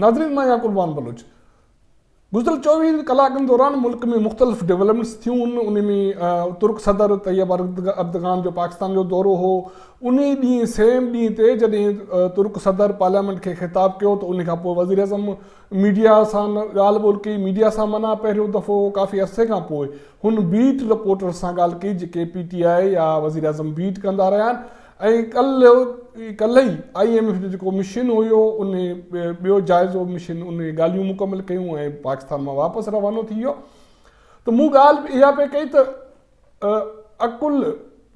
ناظرين مان يعقوب وان بلوچ گذريل چوويهن ڪلاڪن دوران ملڪ ۾ مختلف ڊولپمينٽس ٿيون انهي ۾ ترڪ صدر طيب اردگان جو پاڪستان جو دورو هو انهي ڏينهن سيم ڏينهن تي جڏهن ترڪ صدر پارليامينٽ کي خطاب ڪيو ته انهي کانپوء وزيراعظم ميڊيا سان ڳالهه ٻولهه ڪئي، ميڊيا سان معنيٰ پهريون دفعو ڪافي عرصي کان پوء هن بيٽ رپورٽرز سان ڳالهه ڪئي جيڪي پي ٽي آء يا وزيراعظم بيٽ ڪندا رهيا آهن ۽ ڪلهه ئي ڪلهه ئي آء ايم ايف جو جيڪو مشن هيو ان ٻيو جائزو مشن ان ڳالهيون مڪمل ڪيون ۽ پاڪستان مان واپس روانو ٿي ويو ته مون ڳالهه اها پئي ڪئي ته عقل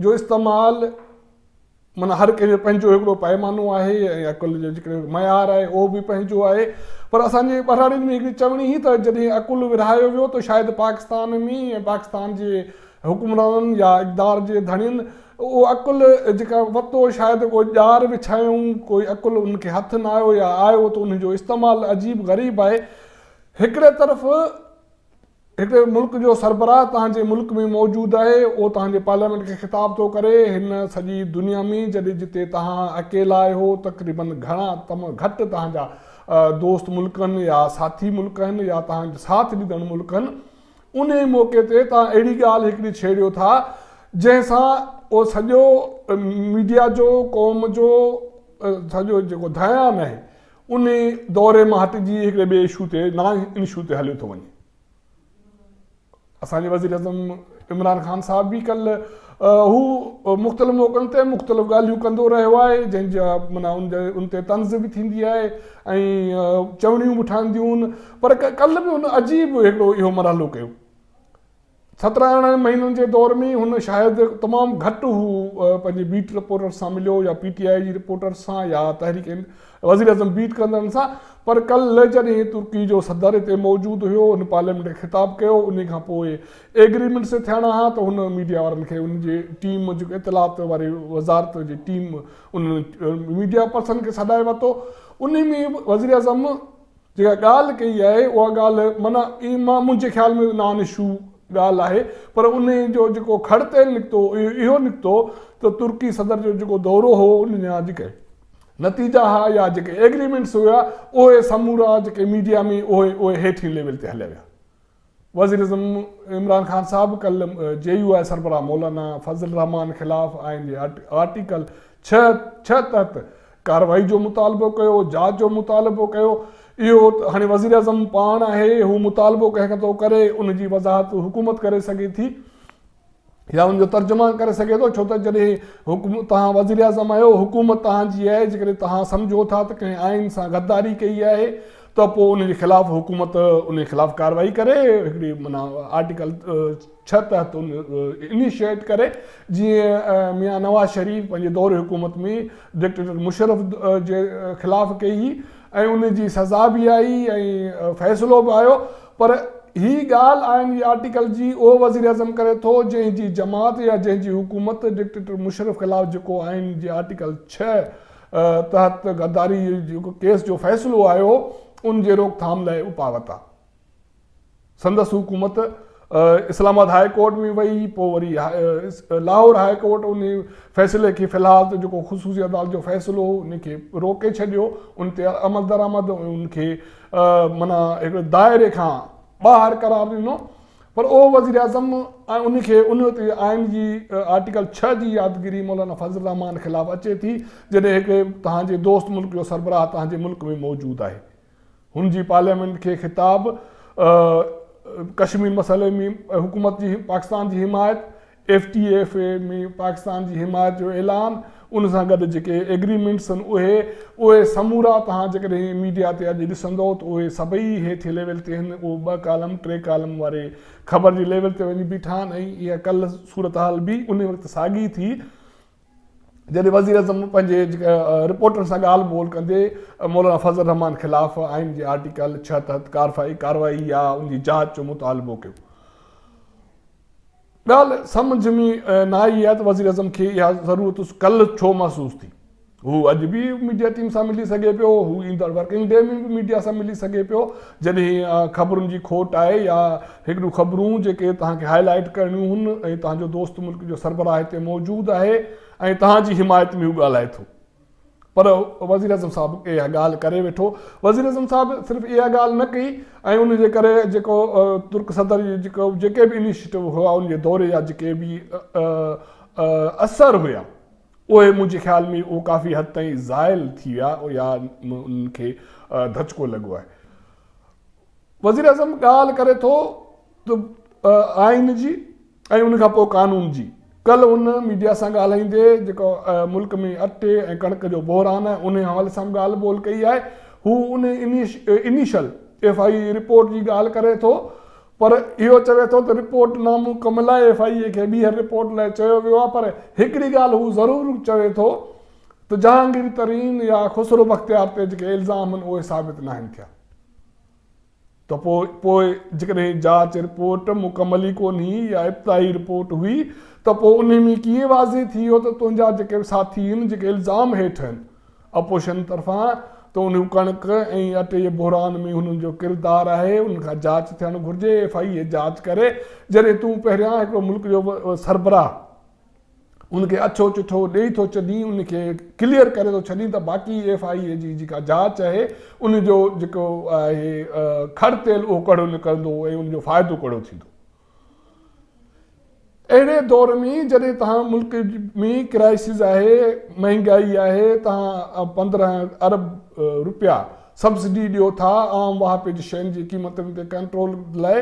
جو استعمال معنيٰ هر ڪنهن جو پنهنجو هڪڙو پئمانو آهي ۽ عقل جو جيڪو معيار آهي اهو به پنهنجو آهي پر اسان جي ٻهراڙين ۾ هڪڙي چوڻي هي ته جڏهن عقل ورهايو ويو ته شايد پاڪستان ۾ ۽ پاڪستان جي حڪمرانن يا اقدار جي ڌڻين اهو عقل جيڪا وتو شايد ڪو ڄار وڇايائون ڪوئي عقل انهن کي هٿ نه آيو يا آيو ته انهن جو استعمال عجيب غريب آهي هڪڙي طرف هڪ ملڪ جو سربراهه توهان جي ملڪ ۾ موجود آهي، اهو توهان جي پارليامينٽ کي خطاب ٿو ڪري، هن سڄي دنيا ۾ جڏهن جتي توهان اڪيلا آهيو، تقريباً گهڻا تم گهٽ توهان جا دوست ملڪ آهن يا ساٿي ملڪ آهن يا توهان جا ساٿ ڏيندڙ ملڪ آهن، انهي موقعي تي توهان اهڙي ڳالهه هڪڙي ڇيڙيو ٿا جنهن سان اهو سڄو ميڊيا جو قوم جو سڄو جيڪو ڌيان آهي ان دوري مان هٽجي هڪڙي ٻئي اشو تي نان انشو تي هليو ٿو وڃي. اسان جي وزيراعظم عمران خان صاحب به ڪلهه هو مختلف موقعن تي مختلف ڳالهيون ڪندو رهيو آهي جنهن جا منا ان تي طنز به ٿيندي آهي ۽ چوڻيون به ٺهنديون پر ڪلهه به هن عجيب هڪڙو اهو مرحلو ڪيو سترهن ارڙهن مهينن جي دور ۾ هن شايد تمام گهٽ هو پنهنجي بيٽ رپورٽرز سان مليو يا پي ٽي آء جي رپورٽرز سان يا تحريڪ وزيراعظم بيٽ ڪندڙن سان پر ڪل جڏهن ترڪي جو صدر اتي موجود هيو هن پارليامينٽ کي خطاب ڪيو انهي کان پوء ايگريمينٽس ٿيڻا ها ته هن ميڊيا وارن کي انهن جي ٽيم جيڪو اطلاعات واري وزارت جي ٽيم انهن ميڊيا پرسن کي سڏائي ورتو انهي ۾ وزيراعظم جيڪا ڳالهه ڪئي آهي اها ڳالهه معنيٰ اي مان منهنجي خيال ۾ نان اشو ڳالهه آهي پر انهي جو جيڪو کڙ تيل نڪتو اهو اهو نڪتو ته ترڪي صدر جو جيڪو دورو هو ان جا جيڪي نتيجا ها يا جيڪي ايگريمينٽس هيا اهي سمورا جيڪي ميڊيا ۾ اهي اهي هيٺين ليول تي هليا ويا. وزيراعظم عمران خان صاحب ڪلهه جي يو آء سربراهه مولانا فضل الرحمان خلاف آئين جي آرٽيڪل ڇهه ڇهه تحت ڪارروائي جو مطالبو ڪيو، جاچ جو مطالبو ڪيو، اهو هاڻي وزيراعظم پاڻ آهي، هو مطالبو ڪنهن ڪتو ڪري، ان جي وضاحت حڪومت ڪري سگهي ٿي. يا ان جو ترجمان ڪري سگهي ٿو ڇو ته جڏهن حڪم توهان وزير اعظم آهيو حڪومت توهان جي آهي جيڪڏهن توهان سمجهو ٿا ته ڪنهن آئين سان غداري ڪئي آهي ته پوء ان جي خلاف حڪومت ان خلاف ڪارروائي ڪري هڪڙي منا آرٽيڪل ڇهه تحت ان انيشيٽ ڪري جيئن ميان نواز شريف پنهنجي دور حڪومت ۾ ڊڪٽيٽر مشرف جي خلاف ڪئي ۽ ان جي سزا به آئي ۽ فيصلو به آيو پر هي ڳالهه آئين جي آرٽيڪل جي اهو وزيراعظم ڪري ٿو جنهن جي جماعت يا جنهن جي حڪومت ڊڪٽيٽر مشرف خلاف جيڪو آئين جي آرٽيڪل ڇهه تحت غداري جي ڪيس جو فيصلو آيو ان جي روڪٿام لاء اپاوتا سندس حڪومت اسلام آباد هاء ڪورٽ ۾ وئي پوء وري لاهور هاء ڪورٽ ان فيصلي کي في الحال ته جيڪو خصوصي عدالت جو فيصلو هو ان کي روڪي ڇڏيو ان تي عملدرآمد ان کي معنيٰ هڪڙي دائري کان ٻاهر قرار ڏنو پر اهو وزيراعظم ۽ ان کي انويت هئي آئين جي آرٽيڪل ڇهه جي يادگيري مولانا فضل الرحمان خلاف اچي ٿي جڏهن هڪ توهان جي دوست ملڪ جو سربراهه توهان جي ملڪ ۾ موجود آهي هن جي پارليامينٽ کي خطاب ڪشمير مسئلي ۾ حڪومت جي پاڪستان جي حمايت F T F A ۾ Pakistan جي حمايت جو اعلان ان سان گڏ جيڪي ايگريمينٽس آهن اهي اهي سمورا توهان جيڪڏهن ميڊيا تي اڄ ڏسندئو ته اهي سڀئي هيٺين ليول تي آهن اهو ٻه ڪالم ٽي ڪالم واري خبر جي ليول تي وڃي بيٺا آهن ۽ اها ڪل صورتحال به انهي وقت ساڳي ٿي جڏهن وزيراعظم پنهنجي رپورٽرن سان ڳالهه ٻولهه ڪندي مولانا فضل الرحمان خلاف آئين جي آرٽيڪل ڇهه تحت ڪارروائي يا ان جي جاچ جو مطالبو ڪيو ڳالهه سمجهه ۾ نه آئي آهي ته وزيراعظم کي اها ضرورت ڪلهه ڇو محسوس ٿي. هو اڄ به ميڊيا ٽيم سان ملي سگهي پيو، هو ايندڙ ورڪنگ ڊي ۾ به ميڊيا سان ملي سگهي پيو، جڏهن خبرن جي کوٽ آهي يا هڪ ڏو خبرون جيڪي توهان کي هاء لائيٽ ڪرڻيون هن ۽ توهان جو دوست ملڪ جو سربراهه هتي موجود آهي ۽ توهان جي حمايت ۾ هو ڳالهائي ٿو. پر وزيراعظم صاحب اها ڳالهه ڪري ويٺو. وزيراعظم صاحب صرف اها ڳالهه نه ڪئي ۽ ان جي ڪري جيڪو ترڪ صدر جيڪي به انيشيٽو هئا ان جي دوري جا جيڪي به اثر هيا اهي منهنجي خيال ۾ اهو ڪافي حد تائين زائل ٿي ويا يا انهن کي ڌچڪو لڳو آهي. وزيراعظم ڳالهه ڪري ٿو ته آئين جي. ۽ ان کان پوء قانون جي. ڪلهه هن ميڊيا سان ڳالهائيندي جيڪو ملڪ ۾ اٽي ۽ ڪڻڪ جو بحران آهي انهي حوالي سان به ڳالهه ٻولهه ڪئي آهي هو ان initial F I A report جي ڳالهه ڪري ٿو پر اهو چوي ٿو ته رپورٽ نامڪمل آهي ايف آء اي کي ٻيهر رپورٽ لاء چيو ويو آهي پر هڪڙي ڳالهه هو ضرور چوي ٿو ته جهانگير ترين يا خسرو بختيار تي جيڪي الزام آهن اهي ثابت ناهن ٿيا. ته پوء پوء جيڪڏهن جاچ رپورٽ مڪمل ئي ڪونهي يا ابتدائي رپورٽ هئي ته پوء انهي ۾ ڪيئن واضح ٿي ويو ته تنهنجا جيڪي به ساٿي آهن جيڪي الزام هيٺ آهن اپوزيشن طرفان ته انهي ڪڻڪ ۽ اٽي جي بحران ۾ هنن جو ڪردار آهي انهن کان جاچ ٿيڻ گهرجي ايف آء اي جاچ ڪري جڏهن تون پهريان هڪڙو ملڪ جو سربراهه ان کي اڇو چٺو ڏئي ٿو چڏين ان کي ڪليئر ڪري ٿو ڇڏين ته باقي ايف آء اي جي جيڪا جاچ اهي ان جو جيڪو آهي کڙ تيل اهو ڪڙو نڪرندو ۽ ان جو فائدو ڪڙو ٿيندو اهڙي دور ۾ جڏهن تهان ملڪ ۾ ڪرائسز آهي مهنگائي آهي تهان پندرهن ارب روپيا سبسڊي ڏيو ٿا عام واهپي جي شين جي قيمتن تي ڪنٽرول لاء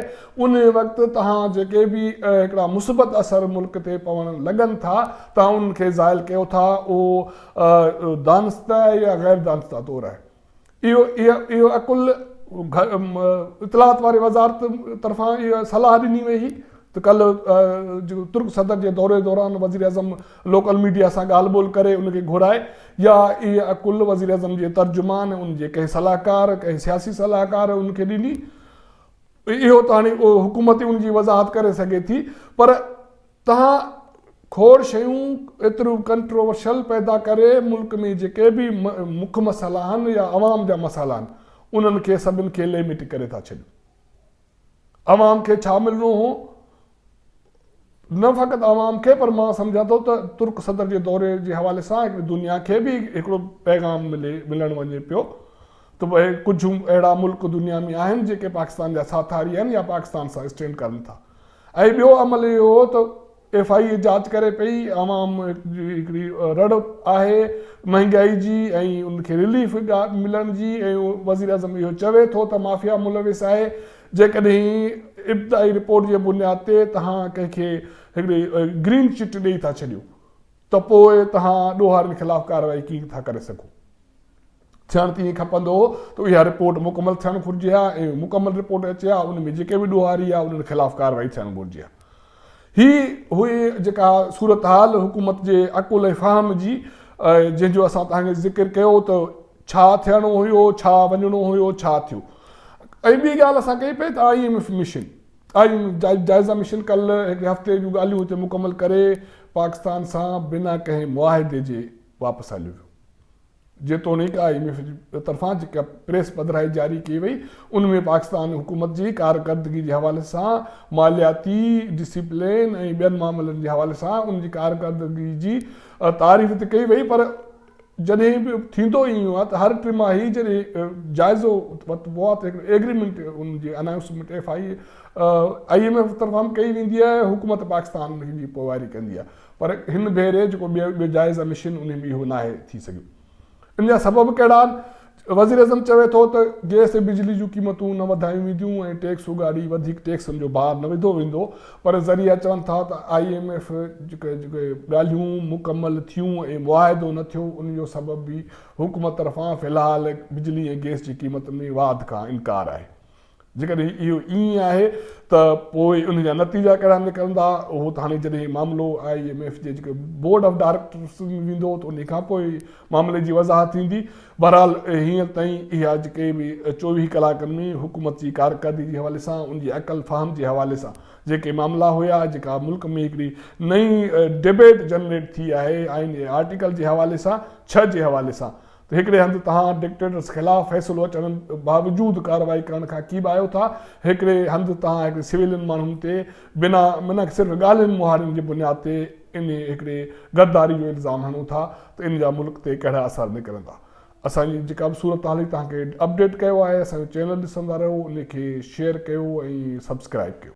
ان وقت توهان جيڪي به هڪڙا مثبت اثر ملڪ تي پوڻ لڳن ٿا توهان انهن کي زائل ڪيو ٿا اهو دانستي يا غير دانستي طور آهي اهو اهو عقل اطلاعات واري وزارت طرفان اهو صلاح ڏني وئي هئي ته ڪلهه ترڪ صدر جي دوري دوران وزيراعظم لوڪل ميڊيا سان ڳالهه ٻولهه ڪري ان کي گهرائي يا اهي عقل وزيراعظم جي ترجمان ان جي ڪنهن صلاحڪار ڪنهن سياسي صلاحڪار ان کي ڏني اهو ته هاڻي حڪومت ئي ان جي وضاحت ڪري سگهي ٿي پر تهان کوڙ شيون ايتريون ڪنٽروورشل پيدا ڪري ملڪ ۾ جيڪي به مک مسئلا آهن يا عوام جا مسئلا آهن انهن کي سڀن کي ليمٽ ڪري ٿا ڇڏيون. عوام کي ڇا ملڻو هو؟ نه فقط عوام کي پر مان سمجهان ٿو ته ترڪ صدر جي دوري جي حوالي سان دنيا کي به هڪڙو پيغام ملڻ وڃي پيو ته اهي ڪجهه اهڙا ملڪ دنيا ۾ آهن جيڪي پاڪستان جا ساٿاري آهن يا پاڪستان سان اسٽينڊ ڪرن ٿا ۽ ٻيو عمل اهو هو ته ايف آء اي جاچ ڪري پئي، عوام جي هڪڙي رڙ آهي مهنگائي جي ۽ ان کي رليف ملڻ جي ۽ وزيراعظم اهو چوي ٿو ته مافيا ملوث آهي، جيڪڏهن ابتدائي رپورٽ جي بنياد تي توهان ڪنهن کي هڪڙي گرين چٽ ڏئي ٿا ڇڏيو ته پوء توهان ڏوهارين خلاف ڪارروائي ڪيئن ٿا ڪري سگهو. ٿيڻ تي ائين کپندو هو ته اها رپورٽ مڪمل ٿيڻ گهرجي ها ۽ اها مڪمل رپورٽ اچي ها ان ۾ جيڪي به ڏوهاري ها انهن خلاف ڪارروائي ٿيڻ گهرجي ها هي هئي جيڪا صورتحال حڪومت جي عقل ۽ فهم جي جنهن جو اسان تهان کي ذڪر ڪيو ته ڇا ٿيڻو هيو ڇا وڃڻو هيو ڇا ٿيو ۽ ٻي ڳالهه اسان ڪئي پئي ته آئي ايم ايف مشن آئي جائزه مشن ڪل هڪڙي هفتي جون ڳالهيون هتي مڪمل ڪري پاڪستان سان بنا ڪنهن معاهدي جي واپس هليو ويو جيتوڻيڪ آء ايم ايف جي طرفان جيڪا پريس پڌرائي جاري ڪئي وئي ان ۾ پاڪستان حڪومت جي ڪارڪردگي جي حوالي سان مالياتي ڊسيپلين ۽ ٻين معاملن جي حوالي سان ان جي ڪارڪردگي جي تعريف ته ڪئي وئي پر جڏهن به ٿيندو ئي ايئن آهي ته هر ٽماهي جڏهن جائزو ورتبو آهي ته هڪڙي ايگريمينٽ ان جي announcement F I M F طرفان ڪئي ويندي آهي حڪومت پاڪستان ان جي پوئواري ڪندي آهي پر هن ڀيري جيڪو ٻيو جائز مشن انهي ۾ اهو ناهي ٿي سگهيو ان جا سبب ڪهڙا آهن وزيراعظم چوي ٿو ته گئس ۽ بجلي جون قيمتون نه وڌايون وينديون ۽ ٽيڪس اگهاڙي وڌيڪ ٽيڪسن جو بار نه وڌو ويندو پر ذريعا چون ٿا ته آء ايم ايف جيڪي جيڪي ڳالهيون مڪمل ٿيون ۽ معاهدو نه ٿيو ان جو سبب به حڪومت طرفان في الحال بجلي ۽ گئس جي قيمت ۾ واڌ کان انڪار آهي جيڪڏهن اهو ائين آهي ته پوء ان جا نتيجا ڪهڙا نڪرندا اهو ته هاڻي جڏهن معاملو آء ايم ايف جي جيڪي بورڊ آف ڊائريڪٽرس ۾ ويندو ته انهي کان پوء معاملي جي وضاحت ٿيندي بهرحال هينئر تائين اها جيڪي به چوويهه ڪلاڪن ۾ حڪومت جي ڪارڪردگي جي حوالي سان ان جي عقل فهم جي حوالي سان جيڪي معاملا هيا جيڪا ملڪ ۾ هڪڙي نئين ڊبيٽ جنريٽ ٿي آهي آئين جي آرٽيڪل جي حوالي سان ڇهه جي حوالي سان ته هڪڙي هنڌ توهان ڊڪٽيٽرس خلاف فيصلو اچڻ باوجود ڪارروائي ڪرڻ کان ڪيٻا آهيو ٿا، هڪڙي هنڌ توهان هڪڙي سويلين ماڻهن تي بنا منهڪ صرف ڳالهين مهاڙين جي بنياد تي انهي هڪڙي غداري جو الزام هڻو ٿا ته ان جا ملڪ تي ڪهڙا اثر نڪرندا. اسان جي جيڪا به صورتحال هئي توهان کي اپ ڊيٽ ڪيو آهي، اسان جو چينل ڏسندا رهيو، انهي کي شيئر ڪيو ۽ سبسڪرائيب ڪيو.